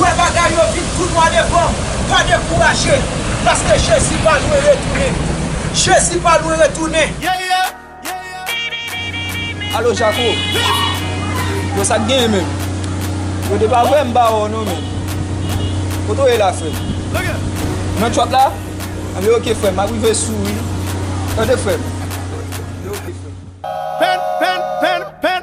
Wè bagay yo vin tou nwa devan m, pa dekouraje, paske Jezi pa lwen retounen. Jezi pa lwen retounen. Yeah yeah yeah yeah Alo jako Yo sak genyen menm Yo de pa vwèm ba wè w non menm Kote w ye la frèm Ou nan truck la Anben ok frèm map rive sou wi Tande frèm Anben ok frèm Pen pen pen pen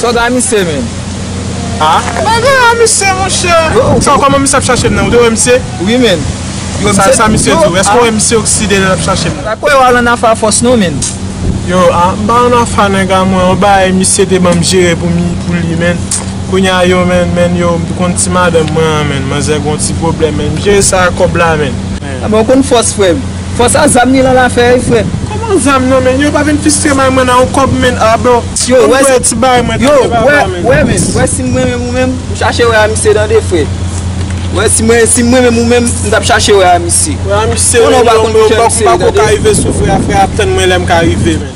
Sa w gen ak misye menm? A? Mwen gen ak misye monchè. Sa w koman misye ap chache m nan? Ou te wè misye? Wi menn. Yo misye. Sa misye di w? Èske w wè misye okside lè l ap chache m nan? Sa kwè w al an afe a fòs non menn. Yo a, m pa an afe a nèg a mwen. On bagay misye te ban m jere pou mi, pou li menn. Kounye a yo menn, menn yo, m konn ti madanm mwen an menn. Manzè gen on ti pwoblèm menn. M jere sa ak kòb la menn. Bon konn fòs frè m. Fwa sa zam ni lan lafè wi frè. Koman zam nan menn yo pa vin fistre may mwen nan yon kob menn ah bro Yo wè si ti bagay mwen tande papa menn. Wè menn wè sim mwen menm ou menm ou chache wè a misye tande frè wè si mwen sim mwen menm ou menm m tap chache wè a misye konnen ou pa konn kijan misye ye tande. Wè a misye menn yo bro m pako ka rive sou frè a frè a ap tann mwen lèm ka rive menn.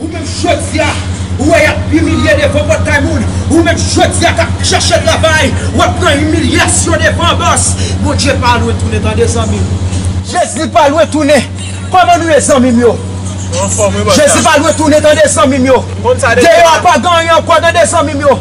Ou menm jodia ou wè yap imilye devan pòtay moun ou menm jodia kap chèche travay wap pran imilyasyon devan bòs Bondye pa lwen tounen tande zanmim. Jezi pa lwen tounen kòman nou ye zanmim yo Jezi pa lwen tounen tande zanmim yo deyò a pa gen anyen ankò tande zanmim yo.